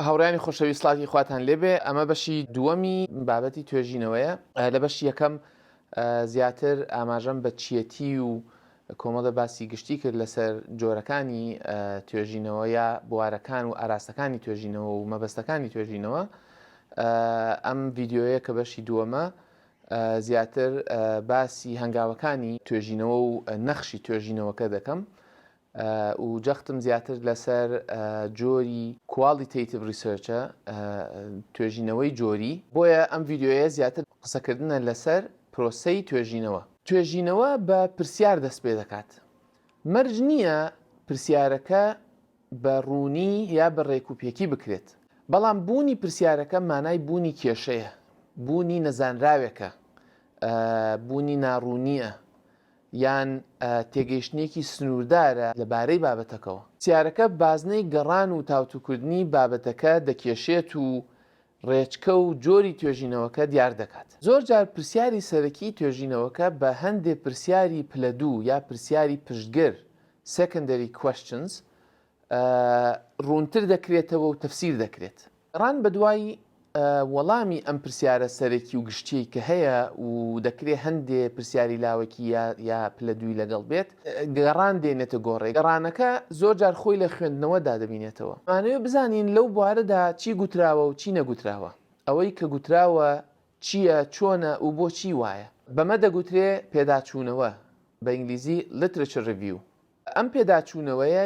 هاوڕیانی خۆشەوی سلاتی خواتان لێبێ ئەمە بەشی دووەمی بابەتی توێژینەوەیە لە بەش یەکەم زیاتر ئاماژەم بە چیەتی و کۆمەڵە باسی گشتی کرد لەسەر جۆرەکانی توێژینەوە یا بوارەکان و ئاراستەکانی توێژینەوە و مەبەستەکانی توێژینەوە ئەم ڤیددیوەیە کە بەشی دووەمە زیاتر باسی هەنگاوەکانی توێژینەوە و نەخشی توێژینەوەکە دەکەم و جەختم زیاتر لەسەر جۆری Qualitative Research-ە، توێژینەوەی جۆری، بۆیە ئەم ڤیدیۆیە زیاتر قسەکردنە لەسەر پرۆسەی توێژینەوە. توێژینەوە بە پرسیار دەست پێدەکات، مەرج نییە پرسیارەکە بە ڕوونی یا بە ڕێک و پێکی بکرێت. بەڵام بوونی پرسیارەکە مانای بوونی کێشەیە، بوونی نەزانراوێکە، بوونی ناڕوونییە، یان تێگەیشتنێکی سنووردارە لە بارەی بابەتەکەوە. پرسیارەکە بازنەی گەڕان و تاوتوکردنی بابەتەکە دەکێشێت و ڕێچکە و جۆری توێژینەوەکە دیار دەکات. زۆر جار پرسیاری سەرەکیی توێژینەوەکە بە هەندێ پرسیاری پلە دوو یا پرسیاری پشتگر، Secondary Questions، ە ڕوونتر دەکرێتەوە و تەفسیر دەکرێت. گەڕان بە دوای وەڵامی ئەم پرسیارە سەرەکی و گشتییەی کە هەیە و دەکرێ هەندێ پرسیاری لاوەکی یا یا پلە دووی لەگەڵ بێت، گەڕان دێنێتە گۆڕێ. گەڕانەکە زۆر جار خۆی لە خوێندنەوەدا دەبینێتەوە. ئەمانەوێ بزانین لەو بوارەدا چی گوتراوە و چی نەگوتراوە. ئەوەی کە گوتراوە چییە، چۆنە و بۆچی وایە. بەمە دەگوترێ پێداچوونەوە، بە ئینگلیزی، Literature Review. ئەم پێداچوونەوەیە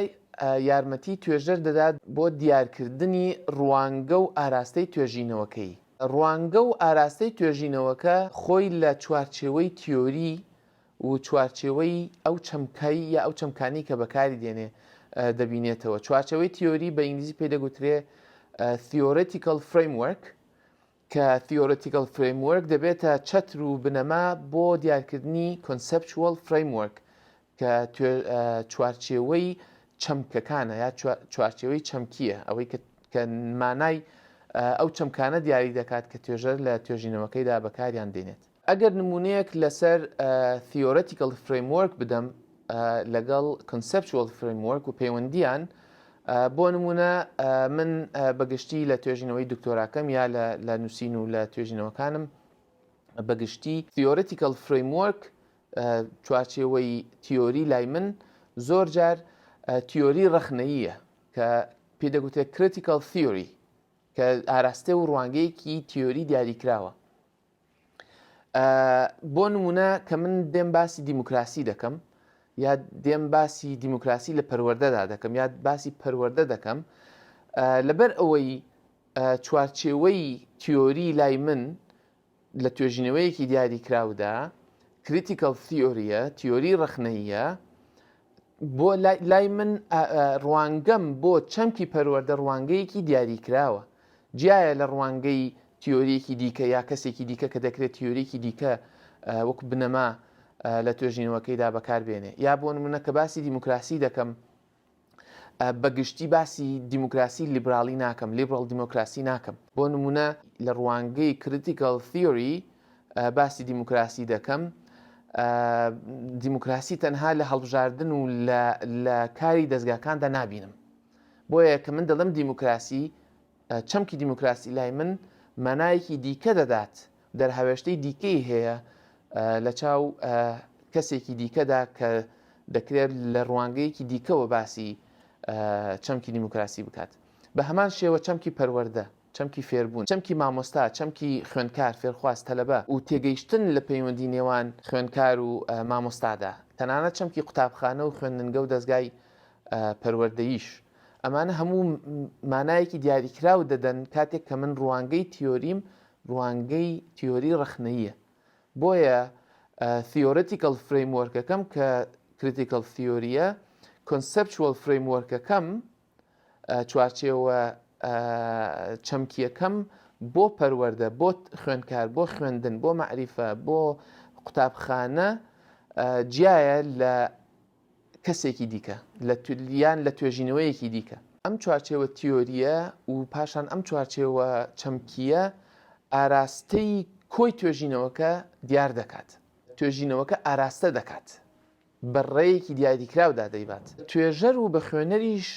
یارمەتی توێژەر دەدات بۆ دیارکردنی ڕوانگە و ئاراستەی توێژینەوەکەی. ڕوانگە و ئاراستەی توێژینەوەکە خۆی لە چوارچێوەی تیۆری، و چوارچێوەی ئەو چەمکەی یا ئەو چەمکانەی کە بەکاری دێنێ دەبینێتەوە. چوارچێوەی تیۆری بە ئینگلیزی پێی دەگوترێ Theoretical Framework کە Theoretical Framework دەبێتە چەتر و بنەما بۆ دیارکردنی Conceptual Framework کە چوارچێوەی چەمکەکانە یا چوارچێوەی چەمکییە ئەوەی کە مانای ئەو چەمکانە دیاری دەکات کە توێژەر لە توێژینەوەکەیدا بەکاریان دێنێت. ئەگەر نموونەیەک لەسەر Theoretical Framework بدەم لەگەڵ Conceptual Framework و پەیوەندیان بۆ نمونە من بەگشتی لە توێژینەوەی دکتۆراکەم یا لە نووسین و لە توێژینەوەکانم بەگشتی Theoretical Framework چوارچێوەی تیۆری لای من زۆر جار تیۆری ڕەخنەییە کە پێ دەگوترێت Critical Theory کە ئاراستە و ڕوانگەیەکی تیۆری دیاریکراوە بۆ نمونە کە من دێم باسی دیموکراسی دەکەم یا دێم باسی دیموکراسی لە پەروەەردەدا دەکەم یا باسی پەروەەردە دەکەم لەبەر ئەوەی چوارچێوەی تیۆری لای من لە توێژینەوەیەکی دیاری کراودا کریتیکەڵ تیۆریە تیۆری ڕخنەیە بۆ لای من ڕوانگەم بۆ چەمکی پەروەەردە ڕوانگەیەکی دیاریکراوە جیایە لە ڕوانگەی تیۆریەکی دیکە یا کەسێکی دیکە کە دەکرێت تیۆریەکی دیکە وەک بنەما لە توێژینەوەکەیدا بەکاربێنێ یا بۆ منە کە باسی دیموکراسی دەکەم بەگشتی باسی دیموکراسی لیبرالی ناکەم لیبرال دیموکراسی ناکەم بۆ نمونە لە ڕوانگەی کریتیکال تیۆری باسی دیموکراسی دەکەم دیموکراسی تەنها لە هەڵبژاردن و لە کاری دەستگاکاندا نبینم بۆیە کە من دەڵم دیموکراسی چەمکی دیموکراسی لای من مانایەکی دیکە دەدات دەرهاوێشتەی دیکەی هەیە لە چاو کەسێکی دیکەدا کە دەکرێت لە ڕوانگەیەکی دیکەوە باسی چەمکی دیموکراسی بکات بە هەمان شێوە چەمکی پەروەەردە چەمکی فێربوون، چەمکی مامۆستا، چەمکی خوێندکار، فێرخواز، تەلەبە، و تێگەیشتن لە پەیوەندی نێوان خوێندکار و مامۆستادا، تەنانەت چەمکی قوتابخانە و خوێندنگە و دەزگای پەروەردەییش، ئەمانە هەموو مانایەکی دیاریکراو دەدەن کاتێک کە من ڕوانگەی تیۆریم ڕوانگەی تیۆری ڕەخنەییە بۆیە Theoretical Framework ەکەم کە Critical Theory ە Conceptual Framework ەکەم، چوارچێوە چەمکیەکەم بۆ پەروەەردە بۆ خوێندکار بۆ خوێندن بۆ معریفە بۆ قوتابخانە جیایە لە کەسێکی دیکە لە تولیان لە توێژینەوەیەکی دیکە ئەم چوارچێوە تیۆریە و پاشان ئەم چوارچێوە چەمکیە ئاراستەی کۆی توێژینەوەکە دیار دەکات توێژینەوەکە ئاراستە دەکات بە ڕێیەکی دیاریکراودا دەیبات. توێژەر و بە خوێنەریش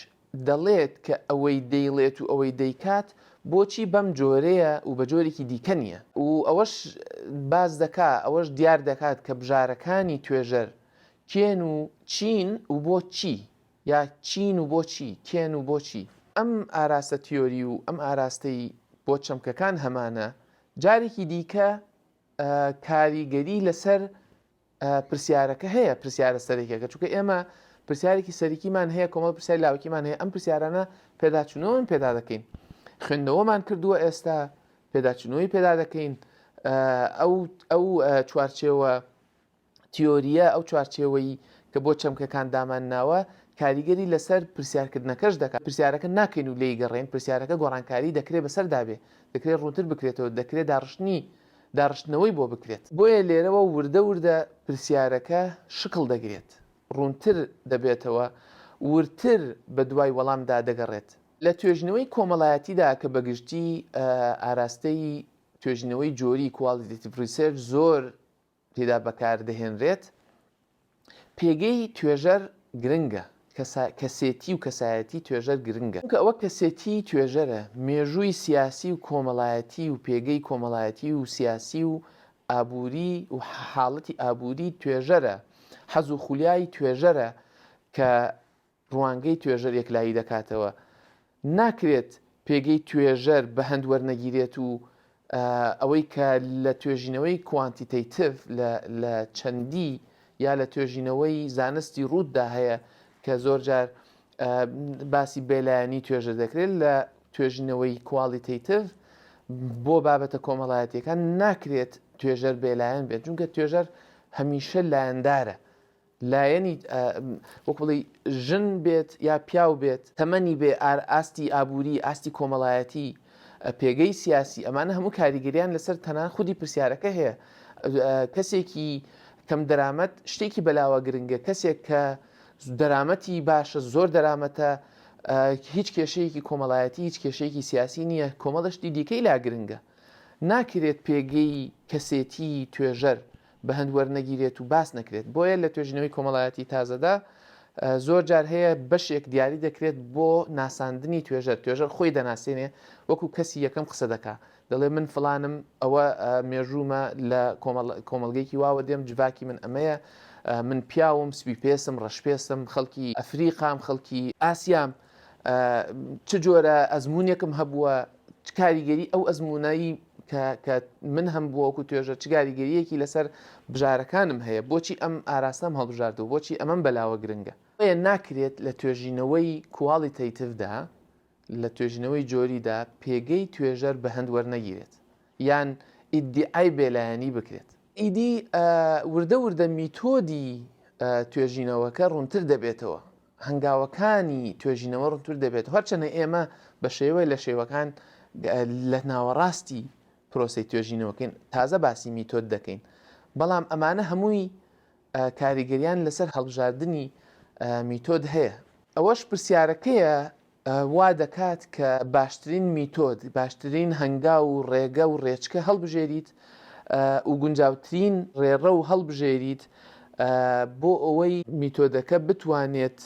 دەڵێت کە ئەوەی دەیڵێت و ئەوەی دەیکات بۆچی بەم جۆرەیە و بە جۆرێکی دیکە نییە و ئەوەش باس دەکا، ئەوەش دیار دەکات کە بژارەکانی توێژەر کێن و چین و بۆ چی یا چین و بۆ چی، کێن و بۆ چی. ئەم ئاراستە تیۆری و ئەم ئاراستەی بۆ چەمکەکان هەمانە، جارێکی دیکە کاریگەری لەسەر پرسیارەکە هەیە پرسیارە سەرەکیەکە چونکە ئێمە پرسیارێکی سەرکیمان هەیە کۆمەڵ پرسیار لاوکیمان هەیە ئەم پرسیارانە پێداچوونەوەن پێدا دەکەین خوێندنەوەمان کردووە ئێستا پێداچنەوەی پێدا دەکەین ئەو ئەو چوارچێوە تیۆریە ئەو چوارچێوەی کە بۆ چەمکەکان دامان ناوە کاریگەری لەسەر پرسیارکردنەکەش دەکات پرسیارەکە ناکەین و لی گەڕێن پرسیارەکە گۆڕانکاری دەکرێت بەسەر دابێ دەکرێت ڕوونتر بکرێتەوە دەکرێت داڕشتنی داڕشتنەوەی بۆ بکرێت. بۆیە لێرەوە وردە وردە پرسیارەکە شکڵ دەگرێت، ڕوونتر دەبێتەوە، وردتر بەدوای وەڵامدا دەگەڕێت. لە توێژینەوەی کۆمەڵایەتیدا کە بەگشتی ئاراستەی توێژینەوەی جۆری، Qualitative Research، زۆر تێدا بەکاردەهێنرێت، پێگەی توێژەر گرنگە، کەسێتی و کەسایەتی توێژەر گرنگە، چونکە ئەوە کەسێتی توێژەرە مێژووی سیاسی و کۆمەڵایەتی و پێگەی کۆمەڵایەتی و سیاسی و ئابووری و حاڵەتی ئابووری توێژەرە، حەز و خولیای توێژەرە کە ڕوانگەی توێژەر یەکلایی دەکاتەوە، ناکرێت پێگەی توێژەر بەهەند وەرنەگیرێت و ئەوەی کە لە توێژینەوەی کوانتیتەیتڤ لە چەندی یا لە توێژینەوەی زانستی ڕووتدا هەیە کە زۆرجار باسی بێلایەنی توێژە دەکرێت لە توێژینەوەی کوالیتەیتڤ بۆ بابەتە کۆمەڵایەتیەکان ناکرێت توێژەر بێلایەن بێت جونکە توێژەر هەمیشە لایەندارە لایەنی وەک بڵێی ژن بێت یا پیاو بێت، تەمەنی بێ، ئاستی ئابووری، ئاستی کۆمەڵایەتی، پێگەی سیاسی، ئەمانە هەموو کاریگەریان لەسەر تەنان خودی پرسیارەکە هەیە. کەسێکی کەم دەرامەت شتێکی بەلاوە گرنگە، کەسێک کە دەرامەتی باشە، زۆر دەرامەتە، هیچ کێشەیەکی کۆمەڵایەتی، هیچ کێشەیەکی سیاسی نییە، کۆمەڵە شتی دیکەی لا گرنگە. ناکرێت پێگەی کەسێتی توێژەر بەهەند وەرنەگیرێت و باس نەکرێت بۆیە لە توێژینەوەی کۆمەڵایەتی تازەدا زۆر جار هەیە بەشێک دیاری دەکرێت بۆ ناساندنی توێژەر توێژەر خۆی دەناسێنێ وەکو کەسی یەکەم قسە دەکا دەڵێ من فلانم ئەوە مێژوومە لە کۆمەڵگەیەکی واوە دێم جڤاکی من ئەمەیە من پیاوم سپی پێسم ڕەش پێسم خەڵکی ئەفریقام خەڵکی ئاسیام چ جۆرە ئەزمونێکم هەبووە چ کاریگەری ئەو ئەزمونایی کە من هەم بووەکو توێژە چ گاریگەریەکی لەسەر بژارەکانم هەیە بۆچی ئەم ئاراستەم هەڵبژاردو بۆچی ئەمەم بەلاوە گرنگە ئەیە ناکرێت لە توێژینەوەی کواڵی تەیتفدا لە توێژینەوەی جۆریدا پێگەی توێژەر بە هەند وەرنەگیرێت یان ئیدعای بێلایەنی بکرێت ئیدی وردە وردە میتۆدی توێژینەوەکە ڕوونتر دەبێتەوە هەنگاوەکانی توێژینەوە ڕونتر دەبێت، هەرچەنە ئێمە بە شێوەیە لە شێوەکان لە ناوەڕاستی پرۆسەی توێژینەوەکەین، تازە باسی میتۆد دەکەین، بەڵام ئەمانە هەمووی کاریگەریان لەسەر هەڵبژاردنی میتۆد هەیە. ئەوەش پرسیارەکەیە وا دەکات کە باشترین میتۆد، باشترین هەنگاو و ڕێگە و ڕێچکە هەڵبژێریت و گونجاوترین ڕێڕە و هەڵبژێریت بۆ ئەوەی میتۆدەکە بتوانێت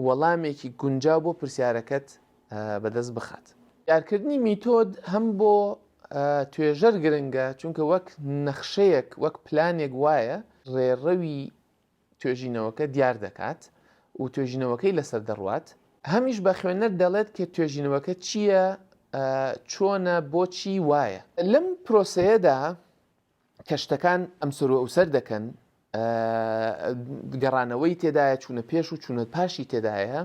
وەڵامێکی گونجاو بۆ پرسیارەکەت بەدەست بخات. کارکردنی میتۆد هەم بۆ توێژەر گرنگە، چونکە وەک نەخشەیەک، وەک پلانێک وایە ڕێڕەوی توێژینەوەکە دیار دەکات و توێژینەوەکەی لەسەر دەڕوات، هەمیش بە خوێنەر دەڵێت کە توێژینەوەکە چییە، چۆنە، بۆچی وایە. لەم پرۆسەیەدا کە شتەکان ئەمسەروئەوسەر دەکەن، گەڕانەوەی تێدایە، چوونە پێش و چوونە پاشی تێدایە،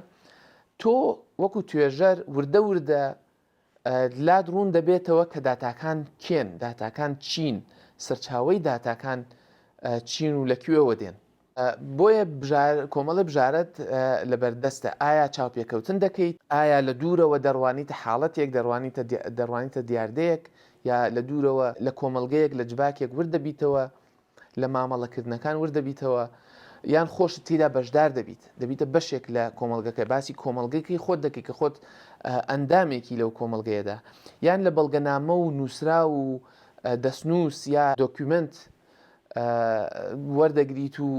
تۆ وەکو توێژەر وردە وردە، لات ڕوون دەبێتەوە کە داتاکان کێن، داتاکان چین، سەرچاوەی داتاکان چین و لە کوێوە دێن. بۆیە کۆمەڵی بژارەت لەبەردەستە ئایا چاوپێکەوتن دەکەیت ئایا لە دوورەوە دەڕوانیتە حاڵەتێک دەڕوانیتە دەڕوانیتە دیاردەیەک یا لە دوورەوە لە کۆمەڵگەیەک لە جڤاکێک ورد دەبیتەوە لە مامەڵەکردنەکان ورد دەبیتەوە یان خۆشت تیدا بەشدار دەبیت دەبیتە بەشێک لە کۆمەڵگەکە باسی کۆمەڵگەکەی خۆت دەکەی کە خۆت ئەندامێکی لەو کۆمەڵگەیەدا یان لە بەڵگەنامە و نووسرا و دەستنووس یا دۆکیومنت وەردەگریت و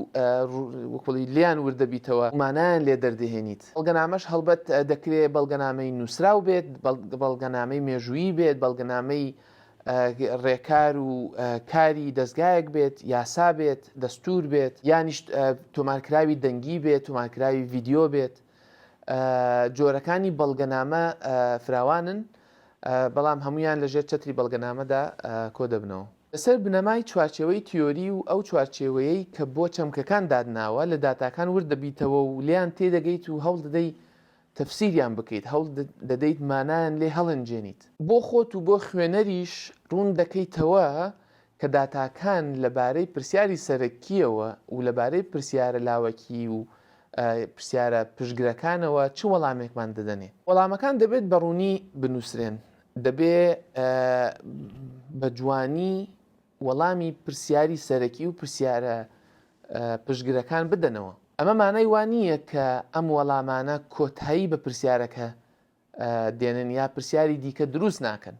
وکڵی لیان وردەبیتەوە مانایان لێ دەردەهێنیت بەڵگەنامەش هەڵبەت دەکرێت بەڵگەنامەی نووسراو بێت بەڵگەنامەی مێژوویی بێت بەڵگەنامەی ڕێکار و کاری دەزگایەک بێت، یاسا بێت، دەستوور بێت، یانیش تۆمارکراوی دەنگی بێت، تۆمارکراوی ڤیدیۆ بێت. جۆرەکانی بەڵگەنامە فراوانن، بەڵام هەموویان لەژێر چەتری بەڵگەنامەدا کۆدەبنەوە. لەسەر بنەمای چوارچێوەی تیۆری و ئەو چوارچێوەیەی کە بۆ چەمکەکان داتناوە، لە داتاکان ورددەبیتەوە و لێیان تێدەگەیت و هەوڵدەدەی تەفسیریان بکەیت، هەوڵ دەدەیت مانایان لێ هەڵێنجێنیت. بۆ خۆت و بۆ خوێنەریش ڕوون دەکەیتەوە کە داتاکان لە بارەی پرسیاری سەرەکییەوە و لە بارەی پرسیارە لاوەکی و پرسیارە پشتگرەکانەوە چ وەڵامێکمان دەدەنێ. وەڵامەکان دەبێت بە ڕوونی بنووسرێن، دەبێ بە جوانی وەڵامی پرسیاری سەرەکی و پرسیارە پشتگرەکان بدەنەوە. ئەمە مانای وا نییە کە ئەم وەڵامانە کۆتایی بە پرسیارەکە دێنن یا پرسیاری دیکە دروست ناکەن.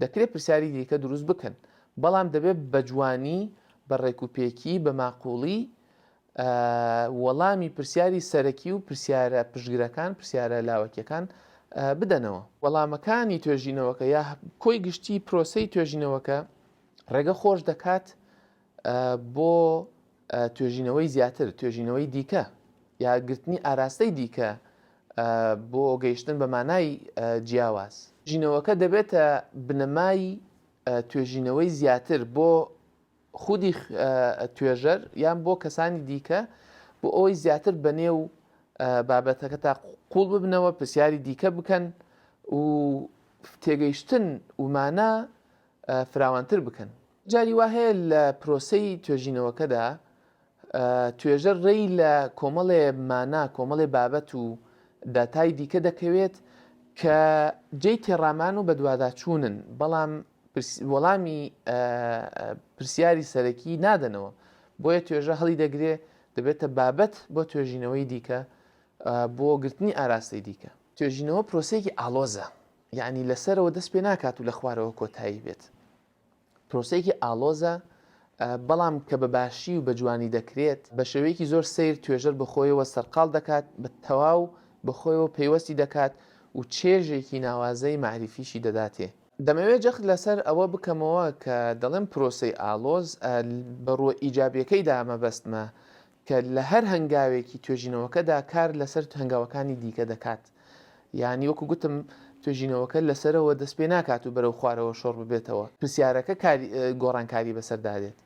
دەکرێت پرسیاری دیکە دروست بکەن، بەڵام دەبێت بە جوانی، بە ڕێکوپێکی، بە ماقووڵی وەڵامی پرسیاری سەرەکی و پرسیارە پشتگرەکان، پرسیارە لاوەکیەکان، بدەنەوە. وەڵامەکانی توێژینەوەکە یا کۆی گشتی پرۆسەی توێژینەوەکە ڕێگە خۆش دەکات بۆ توێژینەوەی زیاتر، توێژینەوەی دیکە یا گرتنی ئاراستەی دیکە بۆ گەیشتن بە مانای جیاواز. ژینەوەکە دەبێتە بنەمای توێژینەوەی زیاتر بۆ خودی توێژەر یان بۆ کەسانی دیکە بۆ ئەوەی زیاتر بە نێو بابەتەکە تا قوڵ ببنەوە پرسیاری دیکە بکەن و تێگەیشتن ومانە فراوانتر بکەن جاری وا هەیە لە پرۆسەی توێژینەوەکەدا توێژەر ڕێی لە کۆمەڵێ مانا، کۆمەڵێ بابەت و داتای دیکە دەکەوێت کە جێی تێڕامان و بەدواداچوونن، بەڵام وەڵامی پرسیاری سەرەکی نادەنەوە، بۆیە توێژە هەڵی دەگرێ دەبێتە بابەت بۆ توێژینەوەی دیکە بۆ گرتنی ئاراستەی دیکە. توێژینەوە پرۆسەیەکی ئاڵۆزە، یانی لەسەرەوە دەست پێ ناکات و لە خوارەوە کۆتایی بێت. پرۆسەیەکی ئاڵۆزە بەڵام کە بە باشی و بە جوانی دەکرێت بە شێوەیەکی زۆر سەیر توێژەر بە خۆیەوە سەرقاڵ دەکات بە تەواو بە خۆیەوە پەیوەستی دەکات و چێژێکی ناوازەی مەعریفیشی دەداتێ. دەمەوێ جەخت لەسەر ئەوە بکەمەوە کە دەڵێم پرۆسەی ئاڵۆز بە ڕووە ئیجابیەکەیدا مەبەستمە کە لە هەر هەنگاوێکی توێژینەوەکەدا کار لەسەر هەنگاوەکانی دیکە دەکات. یانی وەکو گوتم توێژینەوەکە لە سەرەوە دەست پێ ناکات و بەرەو خوارەوە شۆڕ ببێتەوە. پرسیارەکە کاری گۆڕانکاری بەسەردا دێت.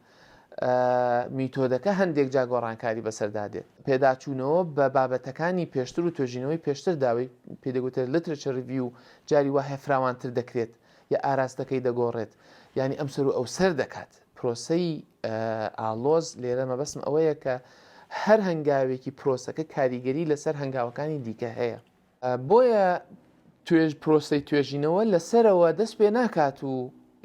میتۆدەکە هەندێک جا گۆڕانکاری بەسەردا دێت. پێداچوونەوە بە بابەتەکانی پێشتر و توێژینەوەی پێشتردا وەی پێ دەگوترێت Literature Review جاری وا هەیە فراوانتر دەکرێت یا ئاراستەکەی دەگۆڕێت. یانی ئەمسەر و ئەوسەر دەکات. پرۆسەی ئاڵۆز، لێرە مەبەستم ئەوەیە کە هەر هەنگاوێکی پرۆسەکە کاریگەری لەسەر هەنگاوەکانی دیکە هەیە. بۆیە توێژ پرۆسەی توێژینەوە لە سەرەوە دەست پێ ناکات و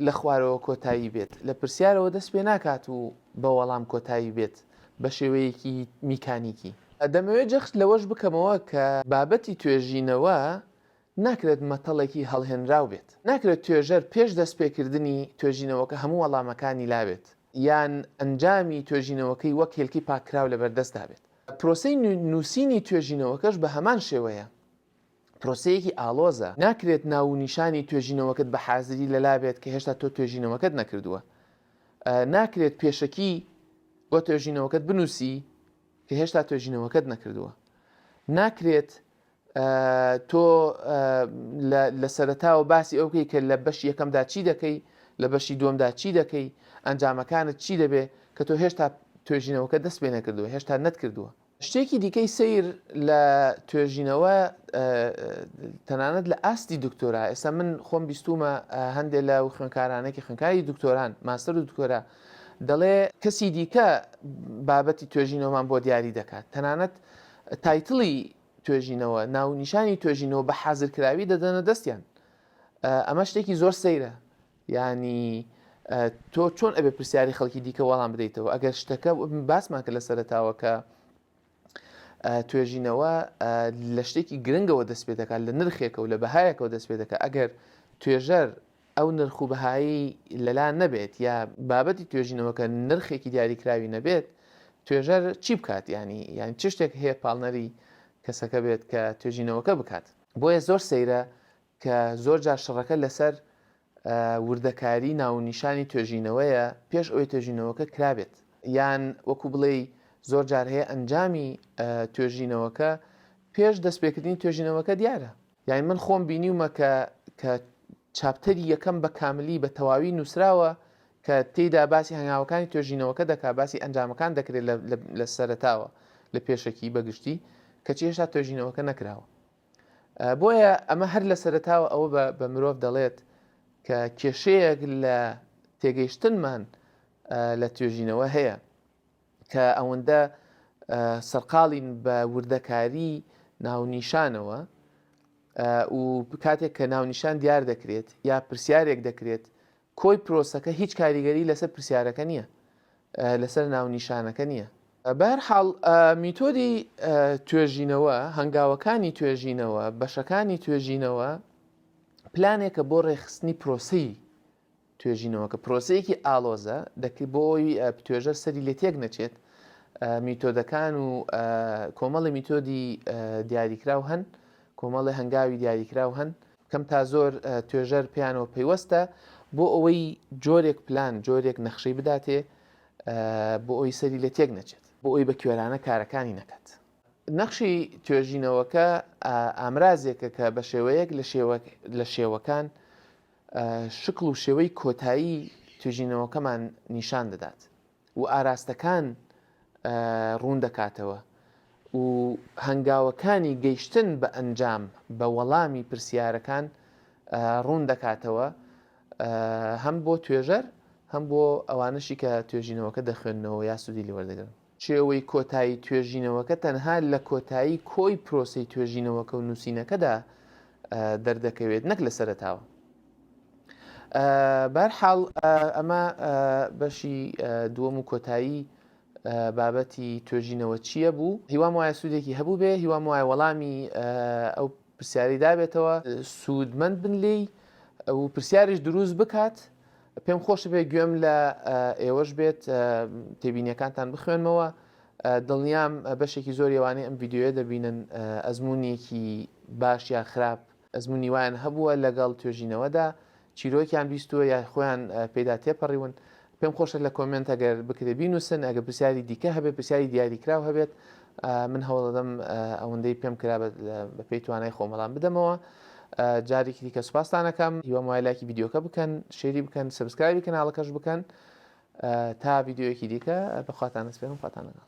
لە خوارەوە کۆتایی بێت، لە پرسیارەوە دەست پێ ناکات و بە وەڵام کۆتایی بێت بە شێوەیەکی میکانیکی. دەمەوێت جەخت لەوەش بکەمەوە کە بابەتی توێژینەوە ناکرێت مەتەڵێکی هەڵهێنراو بێت. ناکرێت توێژەر پێش دەستپێکردنی توێژینەوەکە هەموو وەڵامەکانی لابێت، یان ئەنجامی توێژینەوەکەی وەک هێلکەی پاککراو لەبەردەستدا بێت. پرۆسەی نووسینی توێژینەوەکەش بە هەمان شێوەیە، پرۆسەیەکی ئاڵۆزە. ناکرێت ناوونیشانی توێژینەوەکەت بە حازری لەلابێت کە هێشتا تۆ توێژینەوەکەت نەکردووە. ناکرێت پێشەکی بۆ توێژینەوەکەت بنووسی کە هێشتا توێژینەوەکەت نەکردووە. ناکرێت تۆ لە سەرەتاوە باسی ئەو بکەی کە لە بەشی یەکەمدا چی دەکەی لە بەشی دووەمدا چی دەکەی ئەنجامەکانت چی دەبێ کە تۆ هێشتا توێژینەوەکە دەست پێ نەکردووە هێشتا نەتکردووە شتێکی دیکەی سیر لە توێژینەوە تەنانەت لە ئاستی دکتۆرا ئێستا من خۆم بیستومە هەندێک لە و خوێنکارانێکی خوێنکاری دکتۆران ماستەر و دکتۆرا دەڵێ کەسی دیکە بابەتی توێژینەوەمان بۆ دیاری دەکات تەنانەت تایتڵی توێژینەوە ناونیشانی توێژینەوە بە حازرکراوی دەدەنە دەستیان ئەمە شتێکی زۆر سەیرە ینی تۆ چۆن ئەبێ پرسیاری خەڵکی دیکە وەڵام بدەیتەوە ئەگەر شتەکە باسمان کرد لە سەرتاوە کە توێژینەوە لە شتێکی گرنگەوە دەست پێ دەکات لە نرخێکە و لە بەهایەکەوە دەست پێ دەکات ئەگەر توێژەر ئەو نرخ و بەهایەی لەلا نەبێت یا بابەتی توێژینەوەکە نرخێکی دیاریکراوی نەبێت توێژەر چی بکات ینی یان چ شتێک هەیە پاڵنەری کەسەکە بێت کە توێژینەوەکە بکات بۆیە زۆر سەیرە کە زۆر جار شڕەکە لەسەر وردەکاری ناونیشانی توێژینەوەیە پێش ئەوەی توێژینەوەکە کرابێت یان وەکو بڵێی زۆر جار هەیە ئەنجامی توێژینەوەکە پێش دەستپێکردنی توێژینەوەکە دیارە یانی من خۆم بینیومە کە کە چاپتەری یەکەم بە کاملی بە تەواوی نووسراوە کە تێیدا باسی هەنگاوەکانی توێژینەوەکە دەکا باسی ئەنجامەکان دەکرێت لە سەرتاوە لە پێشەکی بەگشتی کەچی هێشتا توێژینەوەکە نەکراوە بۆیە ئەمە هەر لە سەرتاوە ئەوە بە مرۆڤ دەڵێت کە کێشەیەک لە تێگەیشتنمان لە توێژینەوە هەیە کە ئەوەندە سەرقاڵین بە وردەکاری ناونیشانەوە و کاتێک کە ناونیشان دیار دەکرێت یا پرسیارێک دەکرێت کۆی پرۆسەکە هیچ کاریگەری لەسەر پرسیارەکە نییە لەسەر ناونیشانەکە نییە بەر حاڵ میتۆدی توێژینەوە هەنگاوەکانی توێژینەوە بەشەکانی توێژینەوە پلانێکە بۆ ڕێخستنی پرۆسی توێژینەوەکە پرۆسەیەکی ئاڵۆزە، دەکرێت بۆ ئەوەی توێژەر سەری لێ تێک نەچێت، میتۆدەکان و کۆمەڵی میتۆدی دیاریکراو هەن، کۆمەڵی هەنگاوی دیاریکراو هەن، کەم تا زۆر توێژەر پێیانەوە پەیوەستە بۆ ئەوەی جۆرێک پلان، جۆرێک نەخشەی بداتێ بۆ ئەوەی سەری لێ تێک نەچێت. بۆ ئەوەی بە کوێرانە کارەکانی نەکات. نەخشی توێژینەوەکە ئامرازێکە کە بە شێوەیەک لە شێوەکان شکڵ و شێوەی کۆتایی توێژینەوەکەمان نیشان دەدات و ئاراستەکان ڕوون دەکاتەوە و هەنگاوەکانی گەیشتن بە ئەنجام بە وەڵامی پرسیارەکان ڕوون دەکاتەوە هەم بۆ توێژەر هەم بۆ ئەوانەشی کە توێژینەوەکە دەخوێندنەوە یا سوودی لێوەردەگرن چێوەی کۆتایی توێژینەوەکە تەنها لە کۆتایی کۆی پرۆسەی توێژینەوەکە و نووسینەکەدا دەردەکەوێت نەک لە سەرەتاوە. بەرحاڵ ئەمە بەشی دووەم و کۆتایی بابەتی توێژینەوە چییە بوو هیوام وایە سوودێکی هەبوو بێ هیوام وایە وەڵامی ئەو پرسیاری دابێتەوە سوودمەند بن لێی و پرسیاریش دروست بکات پێم خۆش بێ گوێم لە ئێوەش بێت تێبینیەکانتان بخوێنمەوە دڵنیام بەشێکی زۆر ێوانەی ئەم یددیوە دەبینن ئەزمونونیەکی باش یا خراپ ئەزمونی وایان هەبووە لەگەڵ توێژینەوەدا چیرۆکیان بیستووە یا خۆیان پێیدا تێپەڕیون پێم خۆشە لە کۆمێنت ئەگەر بکرێ بینووسن ئەگە پرسیاری دیکە هەبێت پرسیاری دیاریکراو هەبێت من هەوڵەدەم ئەوەندەی پێم کرا بە پێی توانای خۆمەڵام بدەمەوە جارێکی دیکە سوپاستانەکەم هیوام وای لایکی یددیوکە بکەن شێری بکەن سبسکرایبی کەناڵەکەش بکەن تا یددیوەکی دیکە بەخواتانە سپێن و خواتانەگەڵ